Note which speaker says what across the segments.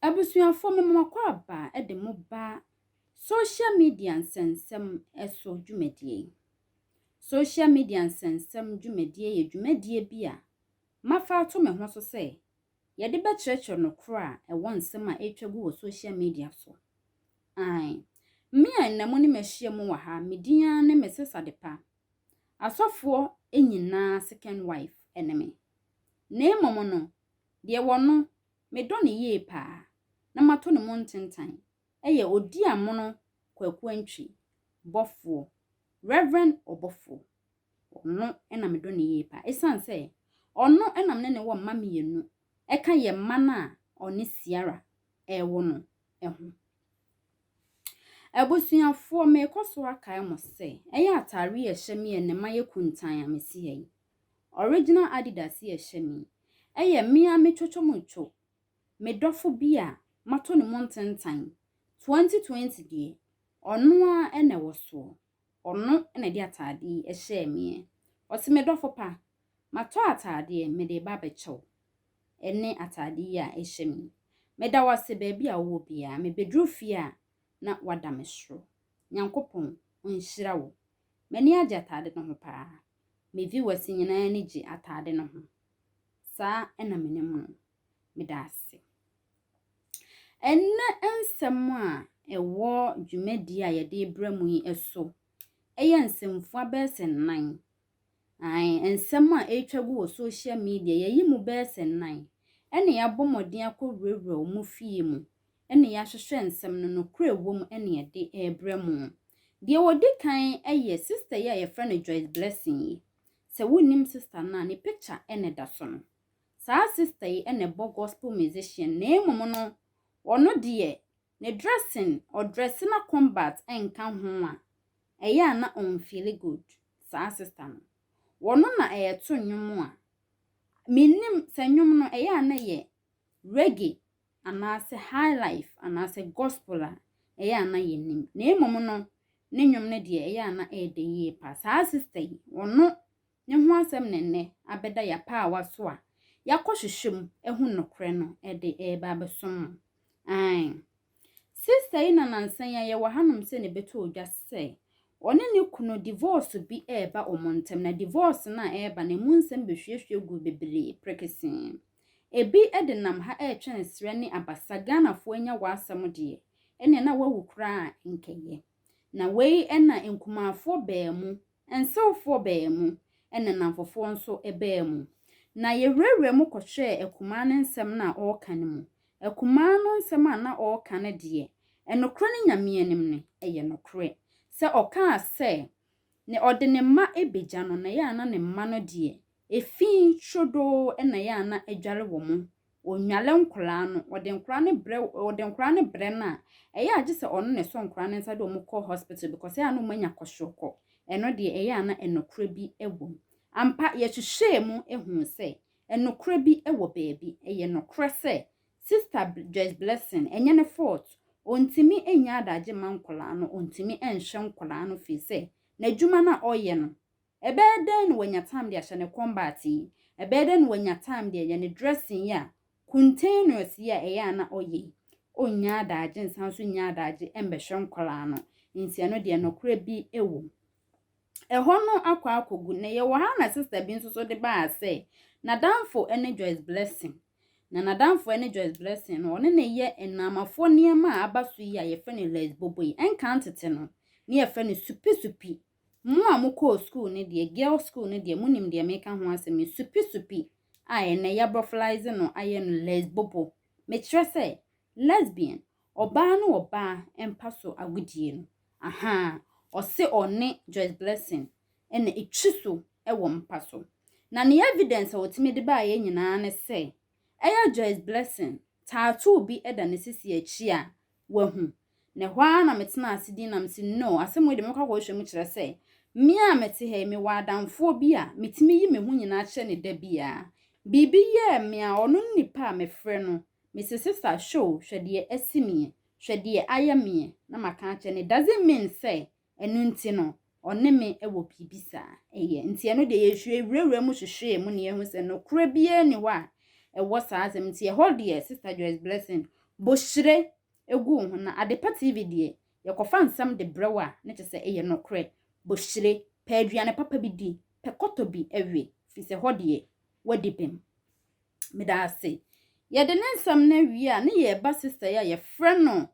Speaker 1: Abusuafo, mema mo akwaaba de mo ba Social Media Nsɛnsɛm so dwumadie yi. Social Media Nsɛnsɛm dwumadie yɛ dwumadie bi a mafa ato me ho so sɛ Yɛde bɛkyerɛkyerɛ nokorɛ a ɛwɔ nsɛm a ɛretwa gu wɔ social media so. Aane. Me a ɛnnɛ mo ne me ahyia mu wɔ ha, me din ara ne Mrs. Adepa. Asɔfoɔ nyinaa second wife ne me. Na mmom no, deɛ wɔ no, me dɔ no yie paa, na mato ne mu ntentan, ɛyɛ Odiamono Kwaku Antwi, bɔfoɔ, Rev. Ɔbɔfoɔ. Ɔno na medɔ no yie paa. Ɛsiane sɛ ɔno na me ne no wɔ mma mmienu, ɛka yɛn mma no a ɔne Ciara rewo no ho. Abusuafoɔ, merekɔ so akae mo sɛ, ɛyɛ atadeɛ a ɛhyɛ me yɛ ne mma yɛ kuntann a mesi ha yi. Original Adidas a ɛhyɛ me yi, ɛyɛ me ara me twotwomutwo, me dɔfo bi a matɔ ne mu ntentan, 2020 deɛ, ɔno ara na ɛwɔ soɔ. Ɔno na ɛde ataade yi hyɛɛ me ɛ. Ɔse me dɔfo pa, matɔ ataadeɛ mede reba abɛkyɛ wo. Ɛne ataade yi a ɛhyɛ me yi. Meda wo ase baabi a wowɔ biara. Mebɛduru fie a na wada me soro. Nyankopɔn ɔnhyira wo. M'ani agye ataade no ho paa. Me viewers nyinaa ani gye ataade no ho. Saa na menim no. Meda ase. Ɛnnɛ nsɛm a ɛwɔ dwumadie a yɛde rebrɛ mo yi so yɛ nsɛmfua bɛyɛ sɛ nnan. Ae, nsɛm a ɛretwa gu wɔ social media, yɛayi mu bɛyɛ sɛ nnan, ɛnna yɛabɔ mmɔden akɔwurawura wɔn fie mu, ɛnna yɛahwehwɛ nsɛm no nokorɛ a ɛwɔ mu na yɛde rebrɛ mo. Deɛ ɔdi kan yɛ sista yi a yɛfrɛ no Joyce Blessing yi. Sɛ wonnim sista no a, ne picture na ɛda so no. saa sister yi na ɛbɔ gospel musician na mmom no ɔno deɛ ne dressing ɔdress na combat nka ho a ɛyɛ a na ɔn feeli good saa sister no ɔno na ɛɛto nnwom a me nnim sɛ nnwom no ɛyɛ a na ɛyɛ reggae anaasɛ high life anaasɛ gospel a ɛyɛ a na yɛ nim na mmom no ne nnwom no deɛ ɛyɛ a na ɛɛdɛ yie paa saa sister yi ɔno ne ho asɛm na nnɛ abɛda yɛapaawa so a yɛakɔhwehwɛ mu ahu nokorɛ no de reba abɛsom mo. Aane. Sista yi na nansa yi a yɛwɔ hanom sɛ na ɛbɛtɔɔ dwa sɛ ɔne ne kunu divɔɔso bi reba wɔn ntam na divɔɔso no a ɛreba no ɛmu nsɛm bɛhwiehwie guu bebree prekesee. Ɛbi de nam ha retwɛn serɛ ne abasa Ghanafoɔ anya w'asɛm deɛ ɛnneɛ na woawu koraa a nkɛyɛ. Na wei na nkumaafoɔ baa mu Nsewfoɔ baa mu, ɛna nnamfofoɔ nso baa mu. Na yɛwurawuraa mu kɔhwɛɛ akumaa no nsɛm no a ɔreka no mu. Akumaa no nsɛm a na ɔreka no deɛ, ɛnokorɛ ne Nyame anim no, ɛyɛ nokorɛ. Sɛ ɔkaa sɛ, ne ɔde ne mma bɛgya no, na ɛyɛ a na ne mma no deɛ, Efi trodoo na yɛ a na adware wɔ mo. Ɔnnwale nkwadaa no. Ɔde nkwadaa no brɛ, ɔde nkwadaa no brɛ no a, ɛyɛ a gye sɛ ɔno na ɛsɔ nkwadaa no nsa de wɔn kɔ hospital because ɛyɛ a na wɔanya kwashiorokɔ. Ɛno deɛ, ɛyɛ a na nokorɛ bi wɔ mu. Ampa, yɛhwehwɛɛ mu huu sɛ, nokorɛ bi wɔ baabi. Ɛyɛ nokorɛ sɛ, Sista Joyce Blessing, ɛnyɛ ne fault. Ɔntumi nnya adagye mma nkwadaa no, ɔntumi nhwɛ nkwadaa no firi sɛ, n'adwuma no a ɔyɛ no, Ɛbɛyɛ dɛn na wanya time de ahyɛ ne combat yi? Ɛbɛyɛ dɛn na wanya time de ayɛ ne dressing yi a cuntaneous yi a ɛyɛ a na ɔyɛ yi? Ɔnnya adagye nsan nso nnya adagye mmɛhwɛ nkwadaa no, nti ɛno deɛ nokorɛ bi wɔ mu. Ɛhɔ no akɔ akɔgu, na yɛwɔ ha a na sister bi nso so de baa sɛ n'adamfo ne Joyce Blessing, na n'adamfo ne Joyce Blessing no ɔne no yɛ nnaamafoɔ nneɛma a aba so yi a yɛfrɛ no lace bobo yi, ɛnkan tete no na yɛfrɛ no supi supi Mo a mokɔɔ sukuu no deɛ, girls school no deɛ, monim deɛ meka ho asɛm yi, supi-supi a ɛnnɛ yɛabrɔfolize no ayɛ no lesbobo, mekyerɛ sɛ, lesbian, ɔbaa ne ɔbaa mpa so agodie no, ahaa, ɔse ɔne Joyce Blessing na ɛtwi so wɔ mpa so. Na ne evidence a ɔtumi de baeɛ nyinaa ne sɛ, ɛyɛ Joyce Blessing, tattoo bi da ne sisi akyi a wahu. Na ɛhɔ ara na metenaa ase dinn na mise, No, asɛm wei deɛ mɛkɔ akɔhwehwɛ mu kyerɛ sɛ, me a mete ha yi, mewɔ adamfoɔ bi a metumi yi me ho nyinaa kyerɛ no da biara. Biribi yɛɛ me a ɔno ne nipa a mefrɛ no. Mise, Sista Shou, hwɛ deɛ asi meɛ. Hwɛ deɛ ayɛ meɛ. Na maka akyerɛ no, It doesn't mean sɛ Ɛno nti no, ɔne me wɔ biribi saa. Ɛyɛ. Nti ɛno deɛ yɛwurawuraa mu hwehwɛɛ mu na yɛahu sɛ nokorɛ biara nni hɔ a ɛwɔ saa asɛm no. Nti ɛhɔ deɛ Sister Joyce Blessing, bohyire gu wo ho na Adepa TV deɛ yɛkɔfa nsɛm de brɛ wo a ne kyɛ sɛ ɛyɛ nokorɛ. Bohyire, pɛ aduane papa bi di, pɛ kɔtɔ bi we, firi sɛ hɔ deɛ woadi bem. Meda ase. Yɛde ne nsɛm no awie a ne yɛreba Sister yi a yɛfrɛ no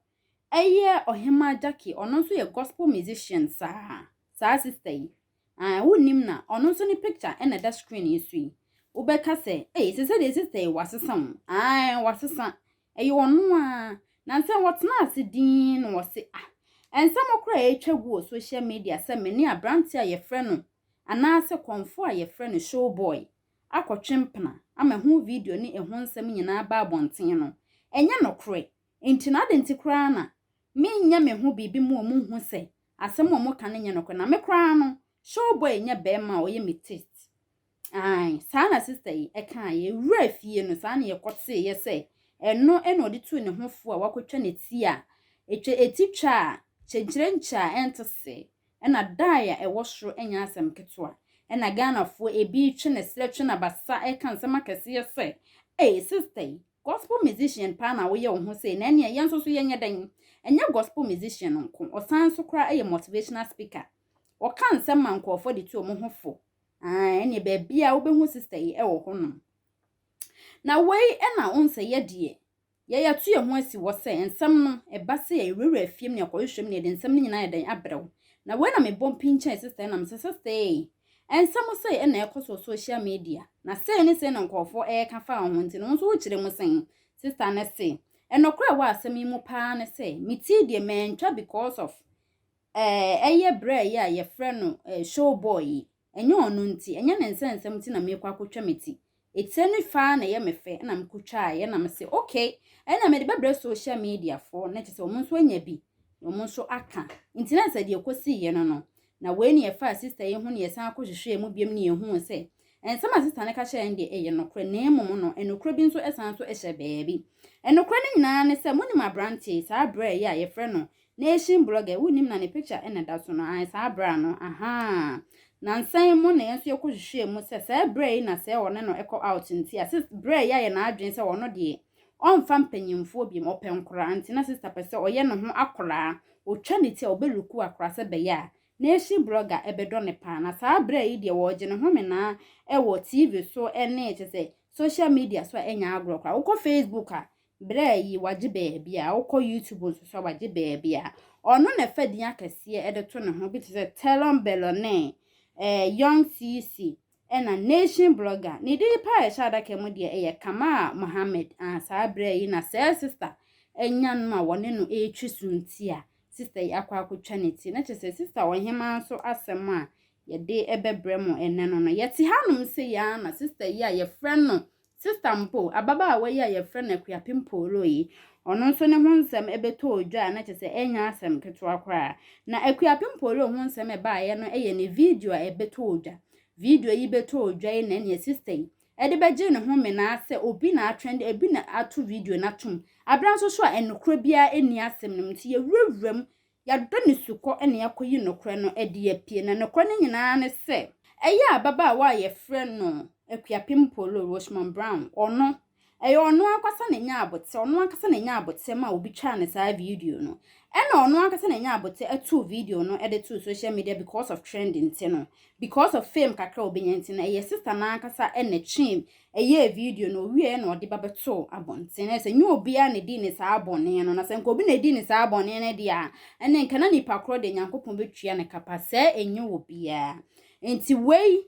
Speaker 1: Ɛyɛ Ɔhemaa Jackie, ɔno nso yɛ gospel musician saa, saa sister yi. Ae, wonnim no a, ɔno nso ne picture na ɛda screen yi so yi. Wobɛka sɛ, ei, sese deɛ sister yi, wasesa o. Ae, wasesa. Ɛyɛ ɔno ara. Nansa yi, ɔtenaa ase dinn na ɔse, ah, ɛnsɛm koraa a ɛretwa gu wɔ social media sɛ me ne aberanteɛ a wɔfrɛ no, anaasɛ kɔmfoɔ a wɔfrɛ no Showboy akɔtwe mpena ama ɛho video ne ɛho nsɛm nyinaa aba abɔnten no, ɛnyɛ nokorɛ. Enti na adɛn nti koraa na menyɛ me ho biribi ma wɔnhu sɛ asɛm a wɔka no nyɛ nokorɛ? Na me koraa no, showboy nyɛ barima a ɔyɛ me taste. Ae, saa na sista yi kaeɛ. Yɛwuraa fie no, saa na yɛkɔteeɛ sɛ ɛno na ɔde tuu ne ho fo a wakɔtwa ne ti a ɛtwa ɛti twa a kyenkyerenkyɛ a ɛnte se na dae a ɛwɔ soro nyɛ asɛm ketewa. Ɛnna Ghanafoɔ bi twe ne serɛ twe n'abasa ka nsɛm akɛseɛ sɛ, Ei, sista yi, Gospel musician paa na woyɛ wo ho sei, na ɛneɛ yɛn nso so yɛnyɛ dɛn? Ɛnyɛ gospel musician nko, ɔsan nso koraa yɛ motivational speaker. Ɔka nsɛm ma nkorɔfoɔ de tu wɔn ho fo. Aah, ɛneɛ baabiara wobɛhu sister yi wɔ hɔ nom. Na wei na wohu sɛ yɛ deɛ, yɛatu yɛn ho asi hɔ sɛ nsɛm no, ɛba sɛ yɛ yɛwurawura afie mu ne yɛkɔhwehwɛ mu ne yɛde nsɛm no nyinaa ayɛ dɛn abrɛ wo. Na wei na mebɔ mpinkyɛn sister yi na mese, sister ei, Ɛnsɛ mo sɛe na ɛkɔ so wɔ social media, na sɛe ne sɛe na nkurɔfoɔ reka fa wo ho nti no wo nso wokyerɛ mu sɛn? Sista no se, Ɛnokorɛ a ɛwɔ asɛm yi mu paa ne sɛ metii deɛ mantwa because of eh, ɛyɛ braa yi a yɛfrɛ no eh, show boy yi. Ɛnyɛ ɔno nti, ɛnyɛ ne nsɛnsɛm nti na meekɔ akɔtwa me ti. Etsie no faa na yɛ me fɛ na me kotwaa yɛ na me se ok ɛna me de bɛbrɛ social media foɔ na kyesɛ ɔmo nso anya bi na ɔmo nso aka nti na sɛ deɛ kosii yɛ no no na wei na yɛfaa sister yi ho na yɛsan ko hwehwɛɛ mu biom na yɛhuu sɛ nsɛm a sister no ka kyerɛ yɛn deɛ ɛyɛ nokorɛ na mmom no ɛnokorɛ bi nso ɛsan nso ɛhyɛ baabi ɛnokorɛ no nyinaa ne sɛ monim abranteɛ yi saa berɛ yi a yɛfrɛ no Nation blogger wonnim na ne picture na ɛda so no ae saa bra no ahaa nansa yi mu na yɛn nso yɛkɔ hwehwɛɛ mu sɛ saa bra yi na sɛ ɔne no ɛkɔ out nti a sist bra yi ayɛ n'adwene sɛ ɔno deɛ ɔmfa mpanyinfoɔ biom ɔpɛ nkoraa nti na sister pɛ sɛ ɔyɛ ne ho akoraa ɔtwa ne ti a ɔbɛ luku akoraa sɛ bɛyɛ a Nation blogger ɛbɛdɔ no paa na saa bra yi deɛ ɔregye ne home naa ɛwɔ TV so ɛne kyɛ sɛ social media so a ɛnyɛ agorɔ koraa wokɔ Facebook a Berɛ yi wagye baabi a, wokɔ YouTube nso so a wagye baabi a, ɔno na ɛfa din akɛseɛ de to ne ho bi te sɛ Telon Bellone, eh, Young CC, ɛna Nation Blogger. Ne din paa ɛhyɛ adaka mu deɛ ɛyɛ Kamal Mohammed. Ah, saa berɛ yi na sɛɛ sista anya no a wɔne no retwe suntia. Sista yi akɔ akɔtwa ne ti. Na kyerɛ sɛ sista ɔhemaa nso asɛm a yɛde bɛbrɛ mo ɛnnɛ no no, yɛte hanom sei ara na sista yi a yɛfrɛ no Sista mpo, ababaawa yi a wɔfrɛ no Akuapem Poolo yi, ɔno nso ne ho nsɛm bɛtɔɔ dwa a na kyerɛ sɛ ɛnyɛ asɛm ketewa koraa. Na Akuapem Poolo ho nsɛm a ɛbaeɛ no yɛ ne video a ɛbɛtɔɔ dwa. Video yi bɛtɔɔ dwa yi na ɛnneɛ sista yi de bɛgyee ne ho menaa sɛ obi na atrɛnde, obi na ato video no atom. Berɛ nso so a nokorɛ biara nni asɛm no mu nti yɛwurawura mu Yɛadɔ ne sukɔ na yɛakɔyi nokorɛ no adi apie, na nokorɛ no nyinaa ne sɛ, ɛyɛ ababaawa a yɛfrɛ no Akuapem Polo Rosemond Brown, ɔno, ɛyɛ ɔno ankasa na ɛnya aboterɛ, ɔno ankasa na ɛnya aboterɛ maa obi twaa no saa video no, ɛna ɔno ankasa na ɛnya aboterɛ too video no de too social media because of trend nti no, because of fame kakra a ɔbɛnya nti no, ɛyɛ sister no ankasa na ɛtwee yɛɛ video no, ɔwieɛ na ɔde ba bɛtoo abɔnten, na sɛ nyɛ obiara na ɛdii ne saa bɔne no, na sɛ nka obi na ɛdii ne saa bɔne no deɛ a, ɛne nka na nipa korɔ deɛ Nyankopɔn bɛtua ne kapa, sɛɛ ɛnyɛ wɔ biara. Nti wei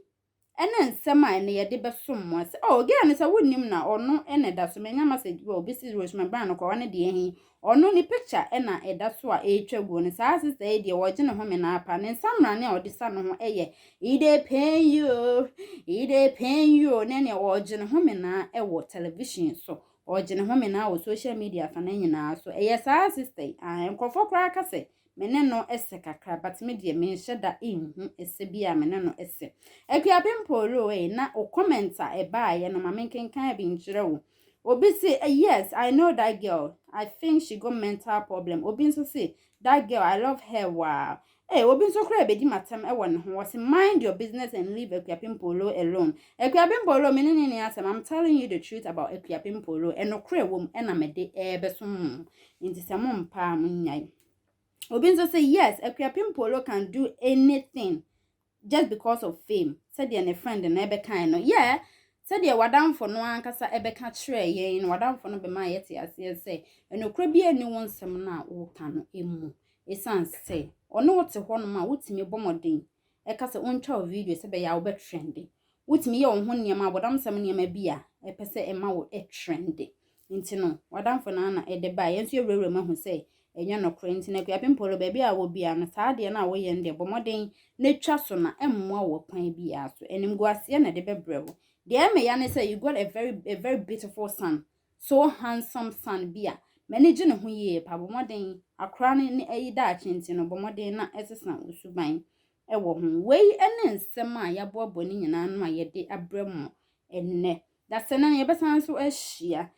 Speaker 1: ɛne nsɛm a ɛne yɛde bɛsom mo, sɛ oh gɛɛ no sɛ wo nnim na ɔno ɛna ɛda so, manya message bi a obi se resuma bra no kɔ, ɔne deɛ ɛhe, Ɔno ne picture na ɛda so a ɛretwa guo no, saa sister yi deɛ wɔgye ne home no ara paa, ne nsamrane a ɔde sa ne ho yɛ it dey pain you oh, it dey pain you oh, ne neɛ ɔregye ne home no ara wɔ television so, ɔregye ne home no ara wɔ social media fa no nyinaa so, ɛyɛ saa sister yi aah, nkurɔfoɔ koraa ka sɛ me ne no sɛ kakra but me deɛ menhyɛ da nhu sɛ bi a me ne no sɛ. Akuapem Pooroo ei, na wo comment a ɛbaeɛ no ma menkenkan bi nkyerɛ wo, Obi se yes I know that girl I think she got mental problem obi nso se that girl I love her waa eh obi nso koraa bedi m'atɛm wɔ ne ho ɔse mind your business and leave Akuapempolo alone Akuapempolo me ne ne nni asɛm I'm telling you the truth about Akuapempolo ɛnokorɛ wɔ mu ɛna mede ɛɛbɛsom mo nti sɛ mo mpa a mo nyae obi nso se yes Akuapempolo can do anything just because of fame sɛdeɛ ne friend no bɛkae no yeah sɛdeɛ w'adamfo no ankasa bɛka kyerɛɛ yɛn no w'adamfo no bɛma yɛte aseɛ sɛ ɛnokorɛ biara nni wo nsɛm no a woka no mu ɛsiane sɛ ɔne wo te hɔ nom a wotumi bɔ mmɔden ɛka sɛ ɔntwa wo video sɛ bɛyɛ a wobɛtrende wotumi yɛ wo ho nneɛma abɔdamsɛm nneɛma bi a ɛpɛ sɛ ɛma wo trende Nti no, w'adamfo no ara na ɛde bae. Yɛn nso yɛwurawura mu ahu sɛ ɛnyɛ nokorɛ. Nti no, Akuapem Paul, baabi a wɔ biara no, saa adeɛ no a woyɛ no deɛ, bɔ mmɔden na twa so na ɛmmoa wo ɔkwan biara so. Animguaseɛ na ɛde bɛbrɛ wo. Deɛ ɛyɛ me ya ne sɛ, you got a very, a very beautiful son, so handsome son bi a m'ani gye ne ho yie paa. Bɔ mmɔden, akora no ne ayi daakye nti no, bɔ mmɔden na sesa wo suban wɔ ho. Wei ne nsɛm a yɛaboaboa no nyinaa ano a yɛde abrɛ mo ɛnnɛ. Dasani no, yɛbɛsan nso ahyia.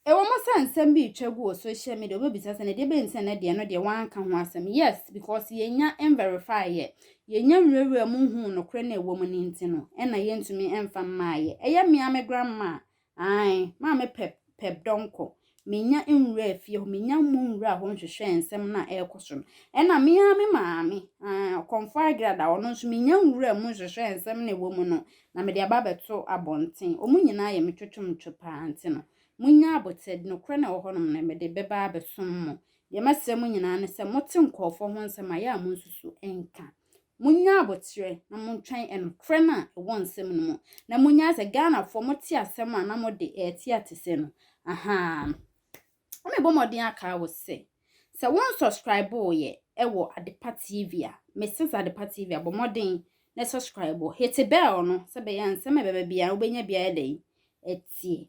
Speaker 1: Ɛwom sɛ nsɛm bi retwa gu wɔ social media, wobɛbisa sɛ, na deɛ ɛbɛyi sɛ na deɛ no deɛ wanka ho asɛm? Yes, because yɛnnya nverify yɛ. Yɛnnya nwurawuraa mu nhuu nokorɛ no a ɛwɔ mu no nti no, ɛna yɛntumi mfa mmaeɛ. Ɛyɛ me ara me grandma, ae, Maame Pep, Pep Donkor, Minnya nwuraa fie hɔ, minnya mmɔ nwuraa hɔ nhwehwɛɛ nsɛm no a ɛrekɔ so no. Ɛnna me ara me maame, aane, Ɔkɔmfo Agrada, ɔno nso, minnya nwuraa mu nhwehwɛɛ nsɛm no a ɛwɔ mu no, na mede aba abɛto abɔnten. Wɔn nyinaa yɛ me twetwomtwe pa ara, nti no, munnya aboterɛ, nokorɛ no a ɛwɔ hɔnom no, mede bɛba abɛsom mo. Deɛ mɛsrɛ mo nyinaa ne sɛ, mote nkurɔfoɔ ho nsɛm a, yɛ a monsusu nka. Monyɛ aboterɛ na montwɛn nokorɛ no a ɛwɔ nsɛm no mu na monyae sɛ Ghanafoɔ mote asɛm a na mode ɛrete atesɛ no ahaa no. Na mebɔ mmɔden akaa wo sɛ sɛ wo nsɔskraibo yɛ wɔ Adepa TV a, Mrs Adepa TV a, bɔ mmɔden na sɔskraibo, hete bɛɛl no sɛ bɛyɛ a nsɛm a ɛbɛba biara wobɛnya bi ayɛ dɛn atie.